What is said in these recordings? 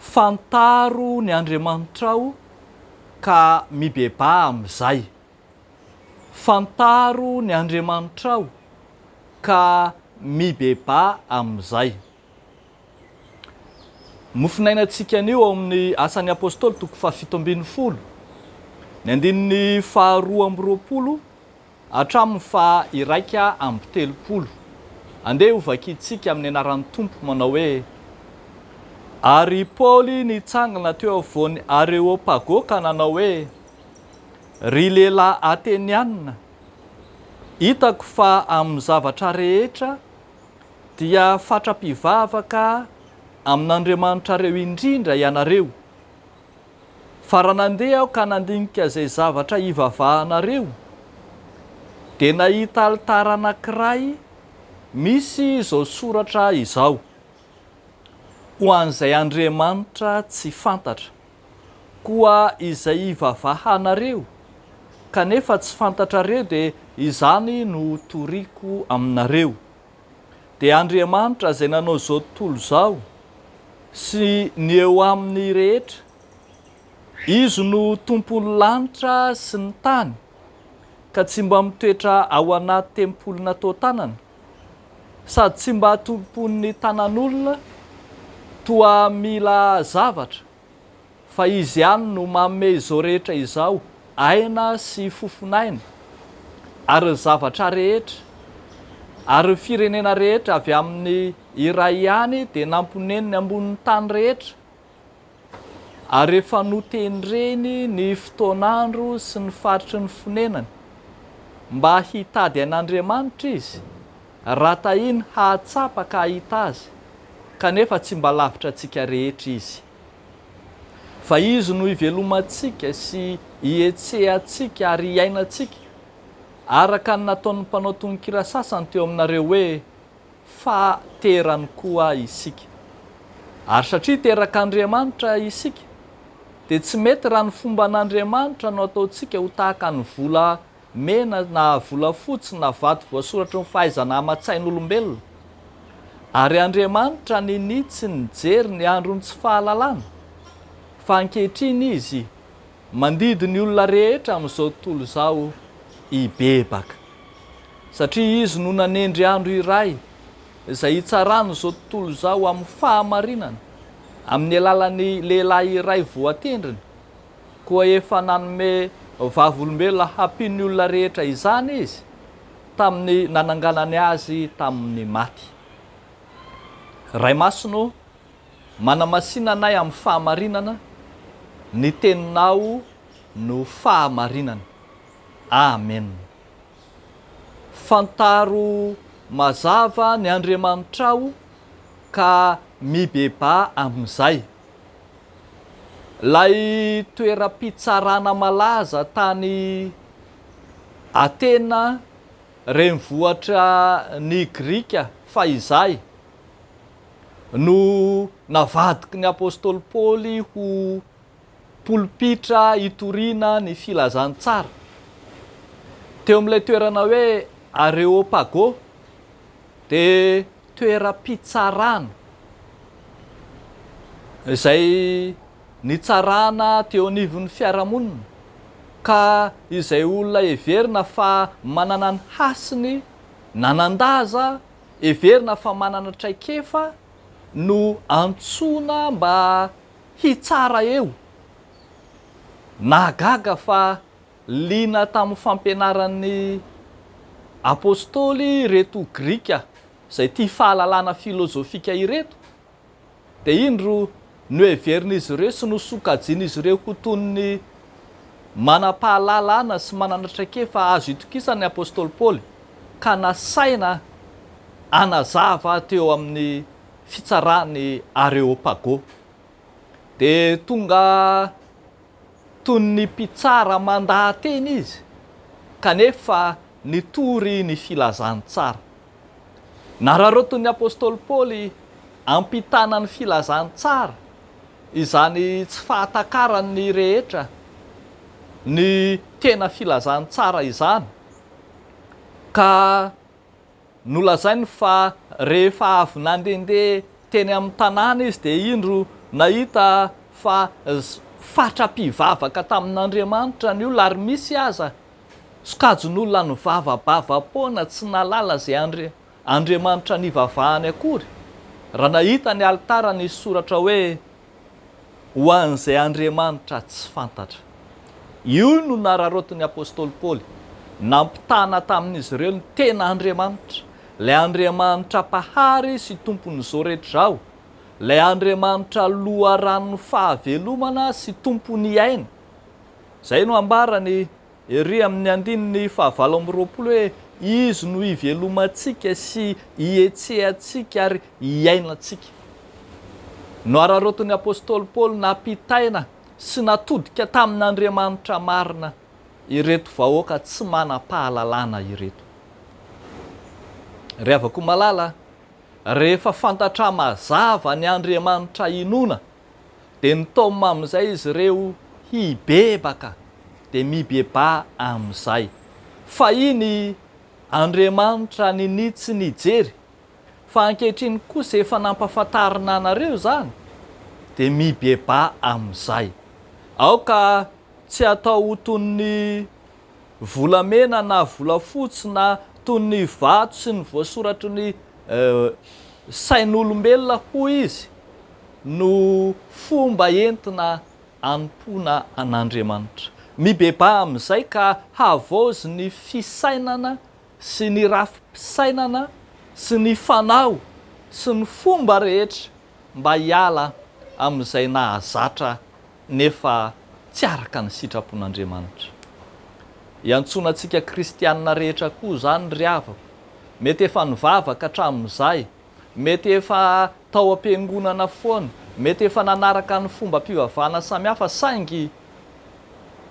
Fantaro ny Andriamanitrao ka mibebaha amin'izay. Fantaro ny Andriamanitrao ka mibebaha amin'izay. Ny finainantsika anio ao amin'ny Asan'ny Apostoly toko fahafito ambin'ny folo, ny andininy faharoa amby roapolo, Hatramin'ny faha iraika amby telopolo. Andeha hovakintsika amin'ny anaran'ny Tompo manao hoe, Ary Paoly nitsangana teo afovoan'ny Areopago ka nanao hoe, Ry lehilahy Ateniana, hitako fa amin'ny zavatra rehetra dia fatra-pivavaka amin'andriamanitrareo indrindra ianareo. Fa raha nandeha aho ka nandinika izay zavatra ivavahanareo, dia nahita alitara anankiray misy izao soratra izao, Ho an'izay andriamanitra tsy fantatra. Koa izay ivavahanareo kanefa tsy fantatrareo dia izany no toriako aminareo. dia Andriamanitra izay nanao izao tontolo izao sy ny eo aminy rehetra. Izy no tompon'ny lanitra sy ny tany ka tsy mba mitoetra ao anaty tempoly natao tanana sady tsy mba tompon'ny tanan'olona toa mila zavatra. fa Izy ihany no manome izao rehetra izao, aina sy fofon'aina, ary ny zavatra rehetra, ary ny firenena rehetra avy amin'ny iray ihany dia namponeniny ambonin'ny tany rehetra, ary efa notendreny ny fotoan'andro sy ny faritry ny fonenany, mba hitady an'Andriamanitra izy, Raha tahiny hahatsapa ka hahita Azy, kanefa tsy mba lavitra antsika rehetra Izy. Fa Izy no ivelomantsika sy ihetsehantsika ary iainantsika, araka ny nataon'ny mpanao tononkira sasany teo aminareo hoe, Fa terany koa isika. Ary satria terak'Andriamanitra isika, dia tsy mety raha ny fomban'Andriamanitra no ataontsika ho tahaka ny vola mena na volafotsy na vato voasoratry ny fahaizana aman-tsain'olombelona. Ary Andriamanitra ninia tsy nijery ny andron'ny tsy fahalalana, fa ankehitriny Izy mandidy ny olona rehetra amin'izao tontolo izao hibebaka. Satria Izy no nanendry andro iray izay hitsarany izao tontolo izao amin'ny fahamarinana, amin'ny alalan'ny lehilahy iray voatendriny, koa efa nanome vavolombelona hampian'ny olona rehetra izany izy tamin'ny nananganany azy tamin'ny maty. Ray Masina ô, manamasina anay amin'ny fahamarinana, ny teninao no fahamarinana. Amena. Fantaro mazava ny Andriamanitrao ka mibebaha amin'izay. Ilay toeram-pitsarana malaza tany Atena renivohitra ny Grika fahizay no navadiky ny apostoly Paoly ho polpitra itoriana ny filazantsara. Teo amin'ilay toerana hoe Areopago Dia toeram-pitsarana izay nitsarana teo anivon'ny fiarahamonina ka izay olona heverina fa manana ny hasiny nanan-daza, heverina fa manana traikefa no antsoina mba hitsara eo. Nahagaga fa Liana tamin'ny fampianaran'ny Apôstôly ireto Grika izay tia fahalalana filôzôfika ireto, dia indro noheverin'izy ireo sy nosokajian'izy ireo ho toy ny manam-pahalalana sy manana traikefa azo itokisana ny Apôstôly Paoly ka nasaina hanazava teo amin'ny fitsaran'ny Areôpagô. Dia tonga Toy ny mpitsara mandaha-teny izy, kanefa nitory ny filazantsara. Nararaotin'ny apostoly Paoly hampitana ny filazantsara, izany tsy fahatakaran'ny rehetra ny tena filazantsara izany, ka Nolazainy fa rehefa avy nandehandeha teny amin'ny tanàna izy dia indro nahita fa fatra-pivavaka tamin'Andriamanitra ny olona ary misy aza sokajin'olona nivava-bava-poana tsy nahalala izay Andriamanitra nivavahany akory raha nahita ny alitara nisy soratra hoe ho an'izay Andriamanitra tsy fantatra. Io no nararaotin'ny apostoly Paoly. Nampitana tamin'izy ireo ny tena Andriamanitra, ilay Andriamanitra Mpahary sy Tompon'izao rehetra izao, ilay Andriamanitra Loharanon'ny fahavelomana sy Tompon'ny aina. Izay no ambaran'i. Ery amin'ny andininy fahavalo amby roapolo hoe, Izy no ivelomantsika sy ihetsehantsika ary iainantsika. Nohararaotin'ny apostoly Paoly nampitaina sy natodika tamin'Andriamanitra marina ireto vahoaka tsy manam-pahalalana ireto. Ry havako malala, rehefa fantatra mazava ny Andriamanitra inoana dia nitaomina amin'izay izy ireo hibebaka, dia mibebaha amin'izay. Fahiny Andriamanitra ninia tsy nijery, fa ankehitriny kosa efa nampafantarina anareo izany, dia mibebaha amin'izay. Aoka tsy hatao ho toy ny volamena na volafotsy na toy ny vato sy ny voasoratry ny sain'olombelona hoy izy no fomba entina anompoana an'Andriamanitra. Mibebaha amin'izay ka havaozy ny fisainana sy ny rafi-pisainana sy ny fanao sy ny fomba rehetra mba hiala amin'izay nahazatra nefa tsy araka ny sitrapon'Andriamanitra. Iantsoana antsika kristiana rehetra koa izany ry havako. Mety efa nivavaka hatramin'izay, mety efa tao am-piangonana foana, mety efa nanaraka ny fombam-pivavahana samihafa saingy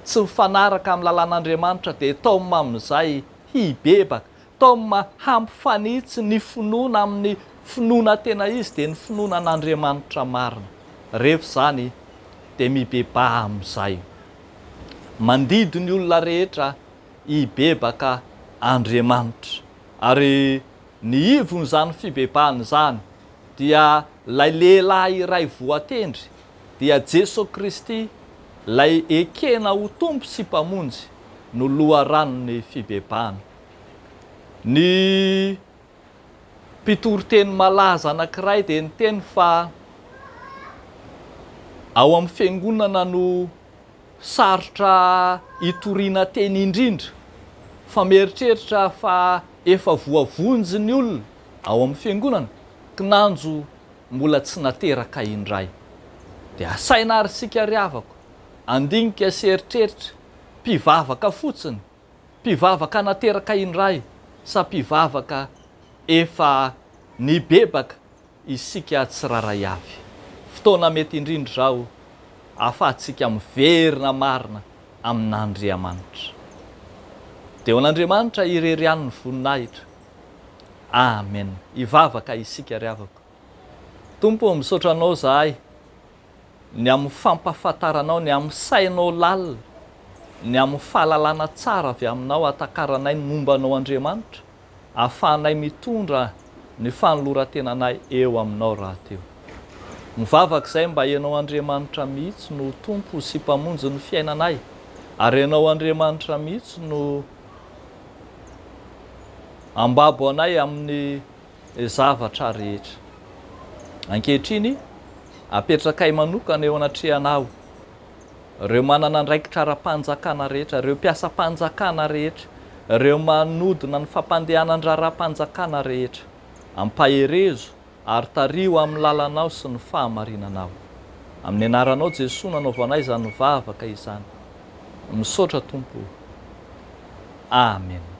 tsy mifanaraka amin'ny lalàn'Andriamanitra dia tao mamin'izay hibebaka Tom, Hampifanitsy ny finoana amin'ny finoana tena izy dia ny finoana an'Andriamanitra marina. Rehefa izany dia mibebaha amin'izay. Mandidy ny olona rehetra hibebaka Andriamanitra. Ary ny ivon'izany fibebahana izany dia ilay lehilahy iray voatendry, dia Jesoa Kristy, ilay ekena ho Tompo sy Mpamonjy, no loharanon'ny fibebahana. Ny mpitoriteny malaza anankiray dia niteny fa ao amin'ny fiangonana no sarotra itoriana teny indrindra, fa mieritreritra aho fa efa voavonjy ny olona ao amin'ny fiangonana, kinanjo mbola tsy nateraka indray. Dia asaina ary isika ry havako, handinika sy hieritreritra, mpivavaka fotsiny, Mpivavaka nateraka indray sa mpivavaka efa nibebaka isika tsirairay avy? Fotoana mety indrindra izao ahafahantsika miverina marina amin'Andriamanitra. Dia ho an'Andriamanitra irery ihany ny voninahitra. Amen. Hivavaka isika ry havako. Tompo ô, misaotra Anao izahay ny amin'ny fampahafantaranao, ny amin'ny sainao lalina, ny amin'ny fahalalana tsara avy Aminao ahatakaranay ny momba Anao Andriamanitra, ahafahanay mitondra ny fanolorantenanay eo Aminao rahateo. Mivavaka izay mba Ianao Andriamanitra mihitsy no ho Tompo sy Mpamonjy ny fiainanay, ary Ianao Andriamanitra mihitsy no ambabo anay amin'ny zavatra rehetra. Ankehitriny, apetrakay manokana eo anatrehanao ireo manana andraikitra ara-panjakana rehetra, ireo mpiasam-panjakana rehetra, ireo manodina ny fampandehanan-draharaham-panjakana rehetra. Ampaherezo ary tariho amin'ny lalanao sy ny fahamarinanao. Amin'ny anaranao Jesoa no anaovanay izany vavaka izany. Misaotra Tompo o. Amena.